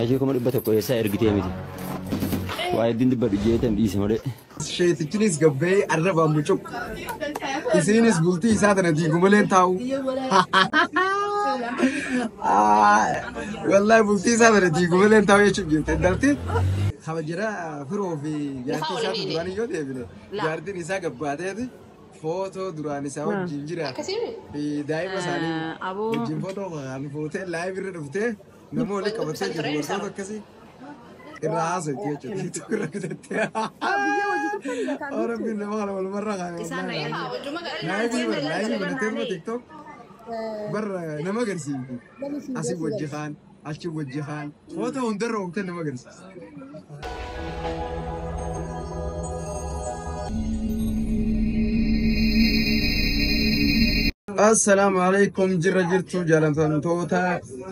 Ajii kuma dhibba tokko eessaa ergitee miti. Waa hedduun dubbadhu jeetan dhiise malee. Sheetichinis gabbee arrabaan mucuq. Isiinis bultii isaa tana diigu malee taa'u. Wallahi bultii isaa tana diigu malee taa'u jechuun jirti. Intalti kaba jira firoo fi jaartii isaa duraan yoo deebine jaartiin isaa gabbaateeti footoo duraan isaa wajjin jira. Daa'ima isaanii wajjin footoo kan fuutee laayibirri dhuftee. Nama waliin qabatee jiru wantoota akkasii irraa haasofti jechuudha. Tiiktook irra bitattee. Oh rabbiin nama kana walumarra kaa'e. Isaan na yaa wajjuma Laayivii bara laayivii bara teeruma tiiktook bara nama agarsiifti. Asii wajji kaan achi wajji kaan footoo hundarra oomte nama agarsiisa. Assalaamu alaikum jirra jirtu jaallatamtoota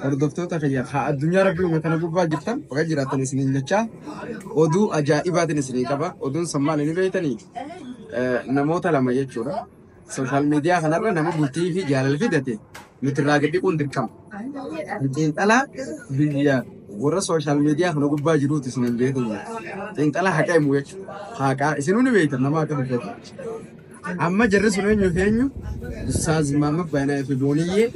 hordoftoota kiyya haa addunyaa rabbii uume kana gubbaa jirtan baga jiraatan isiniin jechaa oduu ajaa'ibaatiin isinii qaba oduun san maal inni beektanii namoota lama jechuudha Sooshaal miidiyaa kanarra nama bultii fi jaalala fidate nuti irraa gadi dhiquun dirqama. Xiinxalaa biyya warra sooshaal miidiyaa kana gubbaa jiruuti isin hin beeku. Xiinxalaa haqa himu jechuudha. Haqaa isinuu ni beektan nama akka dubbatu. Amma jarri sun eenyu fi eenyu? Ustaaz Maamad Baayinaa fi Booniyyee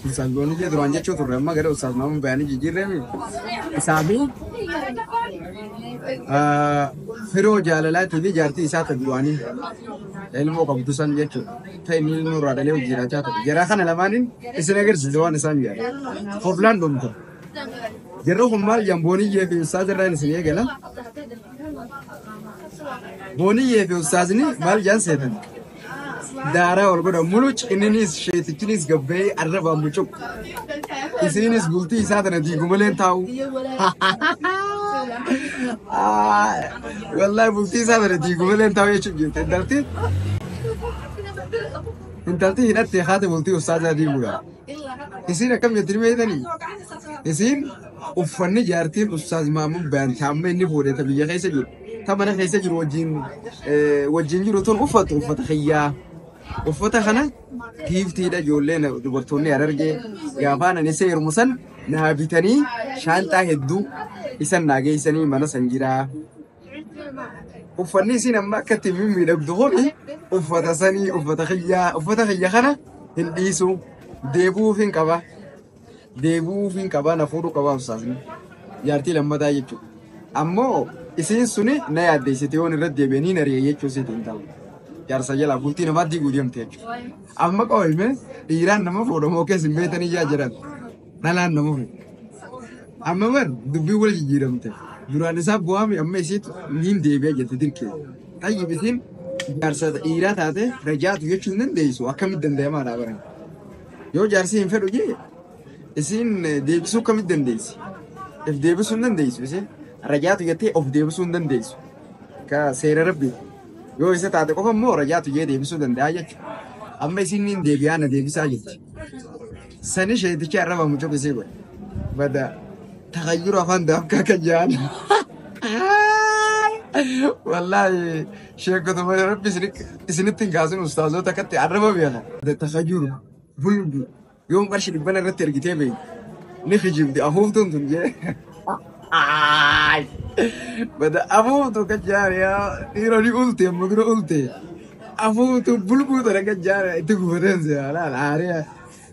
Ustaaz Boonijee duraan jechuu turre amma gara Ustaaz Maamud Bayaanii jijjiirreemi. Isaa fi ah, firoo jaalalaatii fi jaartii isaa ta'e duraanii ilmoo qabdu san jechuudha. Ta'e inni ilmoo irraa dhalee hojii jiraachaa ture. Jaraa kana lamaaniin isin agarsiise waan isaan jedhan. Hoflaan dhumte. Jarri kun maal jedhan Booniyyee fi Ustaaz irraa isin eegala. Booniyyee fi Ustaazni maal jedhan seetan. daaraa wal godha muluc inninis sheetichinis gabba'ee arrabaan mucuq isiinis bultii isaa tana diigu malee hin taa'u Ah, wallahi bultii isaa tana diigu malee hin taa'u jechuun jirti intalti intalti hidhatte haati bultii ustaazaa diigudha isiin akkam jetti ni beektanii isiin uffanni jaartiin ustaaz maamun bayan taamma inni fuudhee ta biyya keessa jiru ta mana keessa jiru wajjin eh, wajjin jiru tun uffatu uffata kiyyaa uffata kana giiftiidha ijoollee na- dubartoonni harargee gaafaan ani seerumu san naa bitanii shaanxaa hedduu isan naa geessanii mana san jiraa uffanni isin amma akka itti mimmiidhagdu kun uffata sanii uffata kiyyaa uffata kiyya kana hin dhiisu deebuuf hin qaba deebi'uufiin qaba na fuudhuu qaba ustaazni jaartii lammataa jechuudha. Ammoo isiin suni na yaaddeessite yoon irratti deebi'e niin ari'e jechuu siiti hin ta'u. Jaarsa jalaa bultii namaa diiguu deemte jechuudha. Amma qooyme dhiiraan nama fuudha moo keessa hin beektanii jaa jiran dhalaan nama fuudha. Amma bar dubbiin wal jijjiiramte duraan isaa bu'aami amma isiitu niin deebi'e jette dirqee. Tayyib isiin jaarsa dhiiraa taate rajaatu jechuu hin dandeessu akkamitti danda'amaa dhaa baran. Yoo jaarsii hin fedhu jee isiin deebisuu akkamitti dandeessi? If deebisuu hin dandeessu isiin. Rajaatu jettee of deebisuu hin dandeessu. Ka seera rabbi. Yoo isa taate qofa immoo rajaatu jee deebisuu danda'a jechuudha. Amma isiin niin deebi'aa na deebisaa jetti. Sani sheeticha irra bamu cuqu isii godhe. Bada takayyuru afaan daafkaa kan jaan. Wallaahi. Sheekota malee rabbi isinitti hin kaasin ustaazoota akkatti arraba beela. Takka jiru hundi yoom qarshi dhibbana irratti ergitee beeyi ni kijibdi afuuftuun tun jee. Bada afuuftu akka jaariyaa dhiira ni ulte amma dura ulte afuuftu bulbuu tana akka jaariyaa itti gufateen seera laala haariyaa.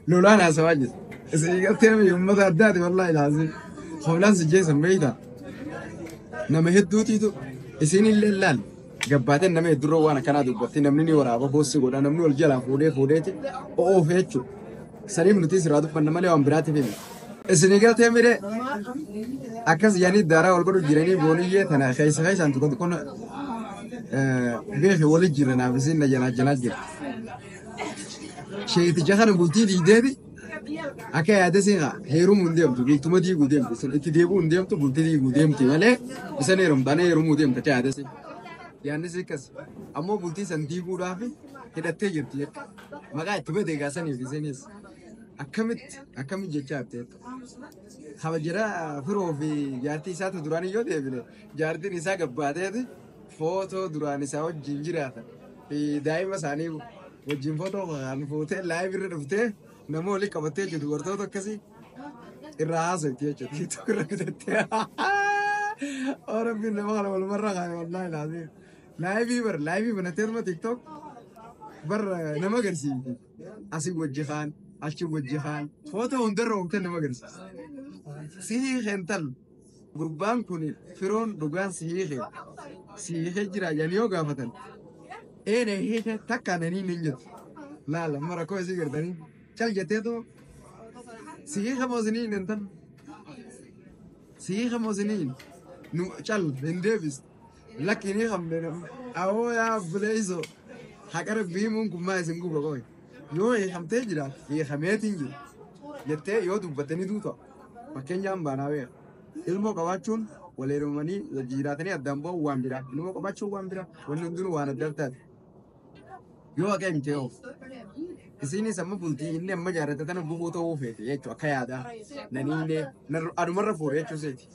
Lolaan haasawaa jira. Isin gartee mii uummata addaati wallaahi laazim. Hoolaan si jeesan beeyta. Nama hedduutiitu isin illee laal. Gabbaateen nama heddurra waan akkanaa dubbatti namni ni waraaba boossi godha namni wal jalaa fuudhee fuudheeti oofe jechuudha. Saniif nuti siraa dubbanna malee waan biraatiif himi. Isin gartee mire akkas yaanii daaraa wal godhu jiranii booniyyee tana keessa keessaan tokko tokko beeku wali jira naaf isin na jalaa jalaa jira. Sheeticha kana bultii diigdeeti akka yaada siin haa heerumuu hin deemtu bultuma diiguu deemtu isin itti deebi'uu hin deemtu bultii diiguu deemti malee isan heerumtaan heerumuu deemta akka yaada siin. Yaannis akkas ammoo bultii san diiguudhaaf hidhattee jirti jechuudha. Maqaa itti badee gaasaniif isinis akkamitti akkamitti jechaa jirti jechuudha. Kabajara firoo fi jaartii isaatu duraan yoo deebine jaartiin isaa gabbaateeti. Footoo duraan isaa wajjin jiraatan fi daa'ima isaanii wajjin footoo kan fuutee laayiv irra dhuftee nama waliin qabattee jirtu dubartoota akkasii irraa haasofti jechuudha. Tiiktook irra bitattee. Oo rabbiin nama kana walumarra kaa'e wallaahi laatee. Laayivii bar laayivii banattee dhuma tiiktook bar nama agarsiifti. Asii wajji kaan achi wajji kaan footoo hundarra oomtee nama agarsiisa. Sihii keental Gurbaan kun firoon dhugaan si hiike si hiike jira jedhanii yoo gaafatan ee na hiike takka nanii nin jettu laala amma rakkoo isii gartanii cal jetteetu si hiike moo sinii hin tan si hiike moo sinii hin nu cal hin deebis lakki hin hiikamne awoo yaa buleeyso haqa rabbii himuun kun maa isin guba qoy yoo hiikamtee jiraat hiikameetiin jiru jettee yoo dubbattanii duuta. Fakkeenyaa hin baanaa beera. Ilmoo qabaachuun wal heerumanii wal jijiraatanii addaan ba'uu waan biraa. Ilmoo qabaachuun waan biraa. Wanni hundinuu waan adda addaati. Yoo haqa himtee hoo? Isiinis amma bultii inni amma jaarrate tana gubuu ta'uu feete jechuudha akka yaadaa. Nani illee narra- adumarra fuudhe jechuu seeti.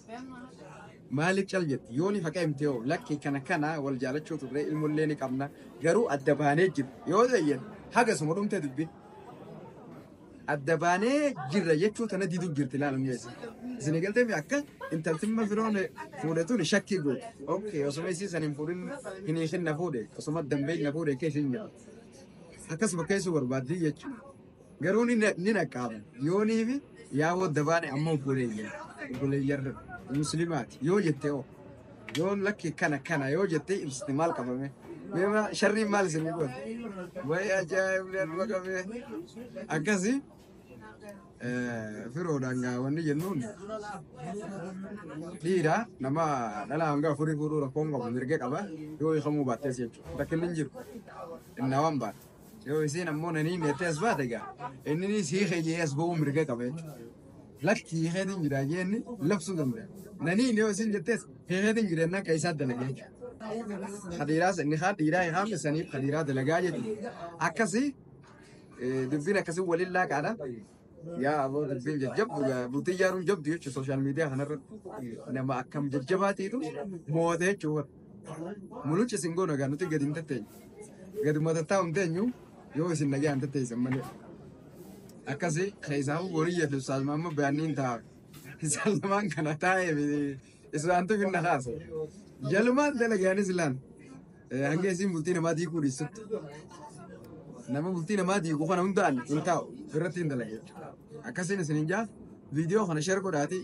Maaliif cal jetti? Yooni haqa himtee hoo? Lakki kana kana wal jaalachuu turre ilmollee ni qabna. Garuu adda baanee jiru. Yoo ta'e haga suma dhumtee dubbi. adda baanee jirra jechuu tana diduu jirti laala mi'eessa. Isin galtee akka intaltimma firoon fuudhe tun shakkii goote. Okkee osuma isii san hin fuudhin hin hiikin na fuudhe osuma dambee na fuudhe keessa hin jedhu. Akkas bakkeessuu barbaaddii jechuudha. Garuu ni ni naqqaaba. Yoonii fi yaaboo adda baane amma obboleeyyan. Obboleeyyan muslimaati. Yoo jettee hoo. Yoo lakki kana kana yoo jettee ibsite maal qabame? Meema sharriin maal isin godhe? Wayi ajaa'ibni arba qabee. Akkasi firoodhaan gaa wanni jennuun dhiira nama dhala hanga afurii fuudhuu rakkoon qabu mirga qaba yoo hiikamuu baattees jechuudha. Rakkinni hin jiru. Innaa waan baate. Yoo isiin ammoo nanii neettee as baate gaa inni siikee jee as ba'uu mirga qaba jechuudha. lakki hiikeetiin jira jeenni labsuu danda'a. Nanii yoo isin jettees hiikeetiin jira jennaan kan isaa dalagaa jechuudha. Kadiiraas inni kaan dhiiraa hiikaan saniif kadiiraa dalagaa jechuudha. Akkasii dubbiin akkasii waliin laaqaadha. Yaa aboo dubbiin jajjabdu bultii ijaaruun jabdu jechuudha sooshaal miidiyaa kanarratti nama akkam jajjabaa ta'etu mo'ate jechuudha. Muluchi isin goona gaa nuti gadi hin tatteenyu. Gaduma tattaa'u hin teenyu yoo isin nagaa hin tatteessan malee. akkasi keessaafu boriyya fi ustaaz maammoo bayanniin ta'a isaan lamaan kana taa'ee fi isaantu finna kaasa jalumaan dalagaanis islaan hanga isiin bultii namaa diikuu dhiissutti nama bultii namaa diiku kana hundaan hin taa'u irratti hin dalage akkasiin isin hin jaa viidiyoo kana sheer godhaati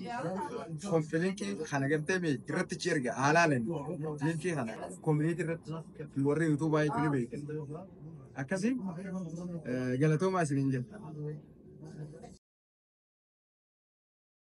konfilinkii kana gartee mee irratti chi erga haalaaleen linkii kana koominiitii irratti warri yuutuubaa jechuun beekan Akkasi galatoomaa isiniin jedha.